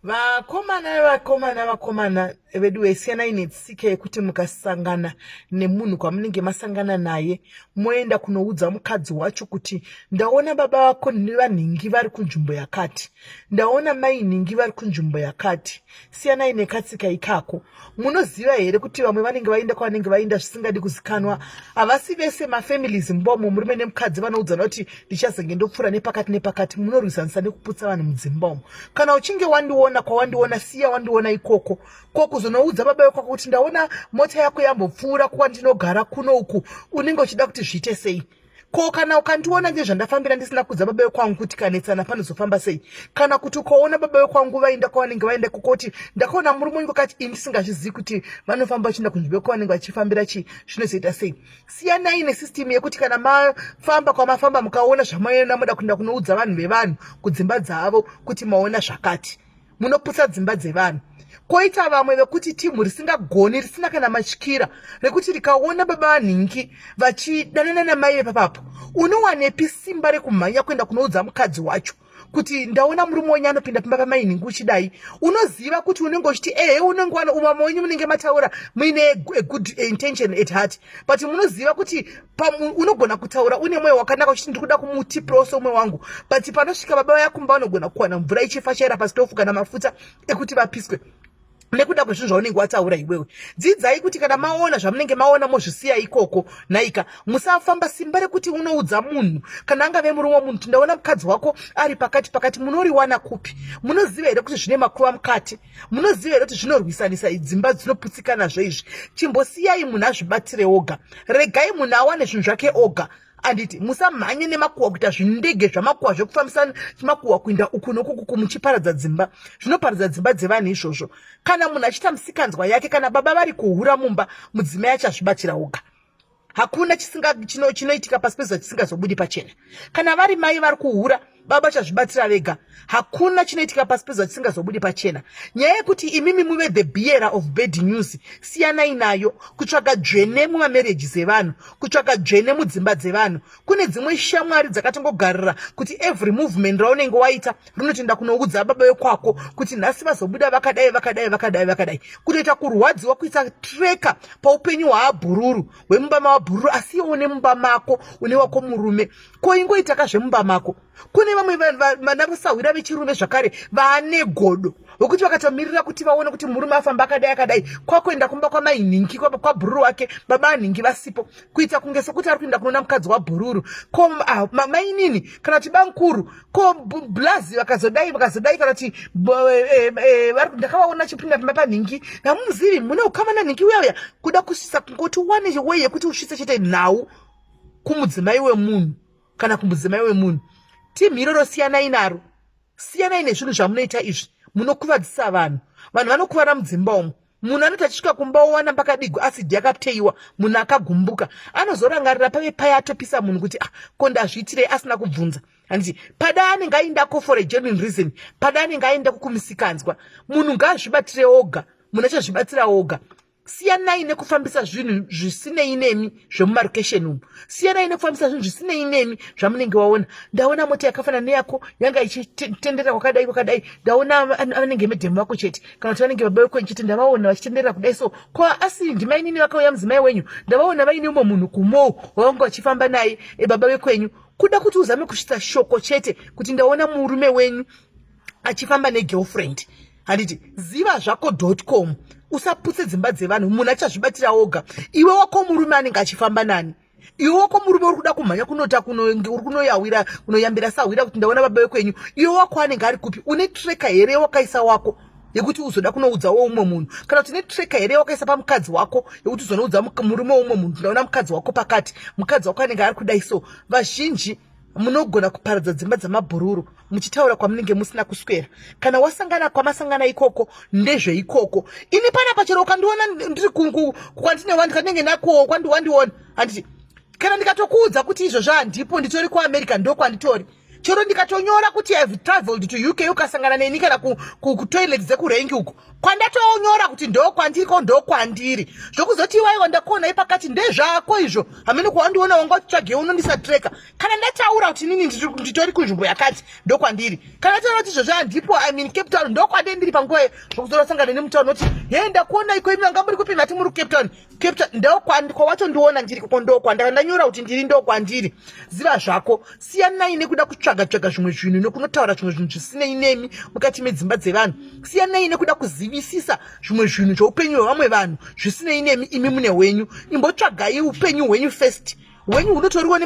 vakomana vakomana vakomana veduwe siyanai netsika yekuti mukasangana nemunhu kwamunenge masangana naye moenda kunoudza mukadzi wacho kuti ndaona baba vako nevanhingi vari kunzvimbo yakati ndaona mai nhingi vari kunzvimbo yakati siyanai nekatsika ikako munoziva here kuti vamwe vanenge vainda kwavanenge vainda zvisingadi kuzikanwa havasi vese mafamilies mbomo murume nemukadzi vanoudzana kuti ndichazenge ndopfuura nepakati nepakati munorwisanisa nekuputsa vanhu mudzimbomo kana uchinge wandiona kwawandiona siya wandiona ikoko ko kuzonoudza baba vekwako kuti ndaona mota yako yambopfuura kuwa ndinogara kuno uku unenge uchida kuti zviite sei ko kana ukandiona ngezvandafambira ndisina kudza baba vekwangu kuti kanetsana panozofamba sei kana kuti ukaona baba vekwangu vaenda kwavanenge vaenda kukoti ndakaona murume unge kati ini ndisingazvizivi kuti vanofamba vachienda kunzvimbo yekwavanenge vachifambira chii zvinozoita sei siyanai nesystemu yekuti kana mafamba kwamafamba mukaona zvamaona moda kuenda kunoudza vanhu vevanhu kudzimba dzavo kuti maona zvakati munoputsa dzimba dzevanhu koita vamwe vekuti timhu risingagoni risina kana matyira rekuti rikaona baba vanhingi vachidanana namai vepapapo unowanepi simba rekumhanya kuenda kunoudza mukadzi wacho kuti ndaona murume wenyu anopinda pimba pamainhingi uchidai unoziva kuti unenge uchiti ehe unenge wano umama wenyu munenge mataura muine good intention at heart but munoziva kuti pamwe unogona kutaura une mweya wakanaka uchiti ndiri kuda kumutipirawo somwe wangu but panosvika baba vaya kumba vanogona kuwana mvura ichifashaira pasitofu kana mafuta ekuti vapiswe nekuda kwezvinhu zvaunenge wataura iwewe dzidzai kuti kana maona zvamunenge maona mozvisiya ikoko nhaika musafamba simba rekuti unoudza munhu kana angave murume wemunhu kuti ndaona mukadzi wako ari pakati pakati munoriwana kupi munoziva here kuti zvine makuva mukati munoziva here kuti zvinorwisanisa idzimba dzinoputsikanazvo izvi chimbosiyai munhu azvibatire oga regai munhu awane zvinhu zvake oga anditi musamhanye nemakuhwa kuita zvindege zvamakuhwa zvekufambisa makuhwa kuinda uku nokukuku muchiparadza dzimba zvinoparadza dzimba dzevanhu izvozvo kana munhu achiita musikanzwa yake kana baba vari kuhura mumba mudzimai achazvibatira oga hakuna chinoitika chino, chino pasi pezuva chisingazobudi pachena kana vari mai vari kuhura baba chazvibatira vega hakuna chinoitika pasi pezuva chisingazobudi pachena nyaya yekuti imimi muve the bearer of bad news siyanai nayo kutsvaga dzvene mumamarriages evanhu kutsvaga dzvene mudzimba dzevanhu kune dzimwe shamwari dzakatongogarira kuti every movement raunenge waita rinotoenda kunoudza baba vekwako kuti nhasi vazobuda vakadai vakadai vakadai vakadai kutoita kurwadziwa kuisa treka paupenyu hwaabhururu hwemumba mavabhururu asi iwo une mumba mako une wako murume ko ingoitaka zvemumba mako kune vamwe vana vasahwira vechirume zvakare vane godo vokuti vakatomirira kuti vaone kuti murume afamba akadai akadai kwakuenda kumba kwamai nhingi kwabhururu wake baba anhingi vasipo kuita kunge sokuti ari kuenda kunoona mukadzi wabhururu ko ah, mainini kana kuti bamkuru ko blazi vakazodai vakazodai kana kuti eh, eh, ndakavaona chipinda pamba panhingi namumuzivi mune ukama nanhingi uya uya kuda kusvisa kungoti wane wei yekuti usvise chete nhau kumudzimai wemunhu kana kumudzimai wemunhu team iroro siyanai naro siyanai nezvinhu zvamunoita izvi munokuvadzisa vanhu vanhu vanokuvara mudzimba umo munhu anoti achisvika kumba owana pakadigwa asidi yakateiwa munhu akagumbuka anozorangarira pave paye atopisa munhu kuti ah, ko ndazviitirei asina kubvunza handiti pada anenge aindako for a genuine reason pada anenge aindako kumisikanzwa munhu ngaazvibatire oga munhu achazvibatsira oga siyanai nekufambisa zvinhu zvisinei nemi zvemumarokesheni umu siyanai nekufambisa zvinhu zvisinei nemi zvamunenge waona ndaona mota yakafanana neyako yanga ichitenderera kwakadai kwakadai ndaona vanenge medhemu vako chete kana kuti vanenge baba vekwenyu chete ndavaona vachitenderera kudai so ko asi ndimainini vakauya mudzimai wenyu ndavaona vaine umwe munhu kumou wavanga vachifamba naye ebaba vekwenyu kuda kuti uzame kusvitsa shoko chete kuti ndaona murume wenyu achifamba negirlfriend handiti ziva zvako com usaputse dzimba dzevanhu munhu achazvibatira oga iwe wako murume anenge achifamba nani iwe wako murume uri kuda kumhanya kunota uri kunoyawira kunoyambira sahwira kuti ndaona baba vekwenyu iwe wako anenge ari kupi une treka here wakaisa wako yekuti uzoda kunoudzawo umwe munhu kana kuti netreka here wakaisa pamukadzi wako yekuti uzonoudza murume weumwe munhu ndaona mukadzi wako pakati mukadzi wako anenge ari kudai so vazhinji munogona kuparadza dzimba dzamabhururu muchitaura kwamunenge musina kuswera kana wasangana kwamasangana ikoko ndezveikoko ini pana pachero ukandiona ndiri kwandine wani kanenge nakowo kwandiwandiona handiti kana ndikatokuudza kuti izvo zvandipo nditori kuamerica ndokwanditori chero ndikatonyora kuti ihave traveled to uk ukasangana neni kana kutoilet dzekurengi uko kwandatoonyora kuti ndokwandiri ko ndokwandiri zvokuzoti iwaiwo ndakuona ipakati ndezvako izvo hamene kwawandiona wanga uchitsvage unondisatreka kana ndataura kuti inini nditori kunzvimbo yakati ndokwandiri kana ndataura kuti izvozvo handipo i mean cape town ndokwandiri ndiri panguva zvokuzorasangana nemutaunoti he ndakuona iko imi vanga muri kupi ndati muri kucape town capture ndokwawatondiona ndiri koko ndokwandaka ndanyora kuti ndiri ndokwandiri ziva zvako siyanai nekuda kutsvaga tsvaga zvimwe zvinhu nekunotaura zvimwe zvinhu zvisinei nemi mukati medzimba dzevanhu siyanai nekuda kuzivisisa zvimwe zvinhu zveupenyu hwevamwe vanhu zvisinei nemi imi mune hwenyu imbotsvagai upenyu hwenyu first hwenyu hunotoriwo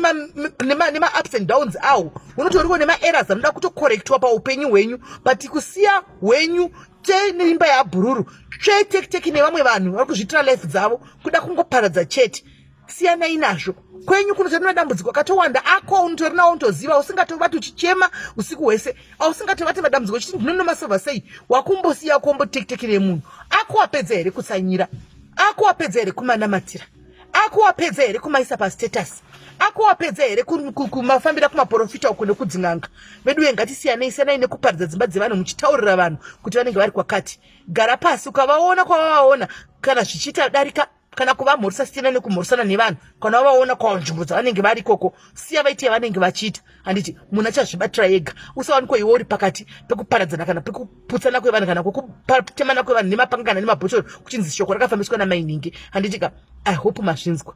nemaups and downs awo hunotoriwo nemaerrors anoda kutocorrectiwa paupenyu hwenyu but kusiya hwenyu tei neimba yaabhururu tsvee tekiteki nevamwe vanhu vari kuzviitira life dzavo kuda kungoparadza chete siyanai nazvo kwenyu kunotori madambudziko akatowanda ako unotori nawo unotoziva usingatovati uchichema usiku hwese ausingatovati madambudziko chiti ndinonomasova sei wakumbosiya wakuombotekiteki remunhu ako wapedza here kutsanyira ako wapedza here kumanamatira akuwapedza here kumaisa pastatus akuwapedza here kumafambira kumaporofita uko nekudzin'anga veduwe ngatisiyanei siyanai nekuparidza dzimba dzevanhu muchitaurira vanhu kuti vanenge vari kwakati gara pasi ukavaona kwavavaona kana zvichiita darika kana kuvamhorisa siyana nekumhorisana nevanhu kana wavaona kwanzvimbo dzavanenge vari ikoko siya vaite yavanenge vachiita handiti munhu achazvibatira ega usawanikwa iwe uri pakati pekuparadzana kana pekuputsana kwevanhu kana kwekutemana kwevanhu nemapanga kana nemabhotoro kuchinzi shoko rakafambiswa namainhingi handitika i hope mazvinzwa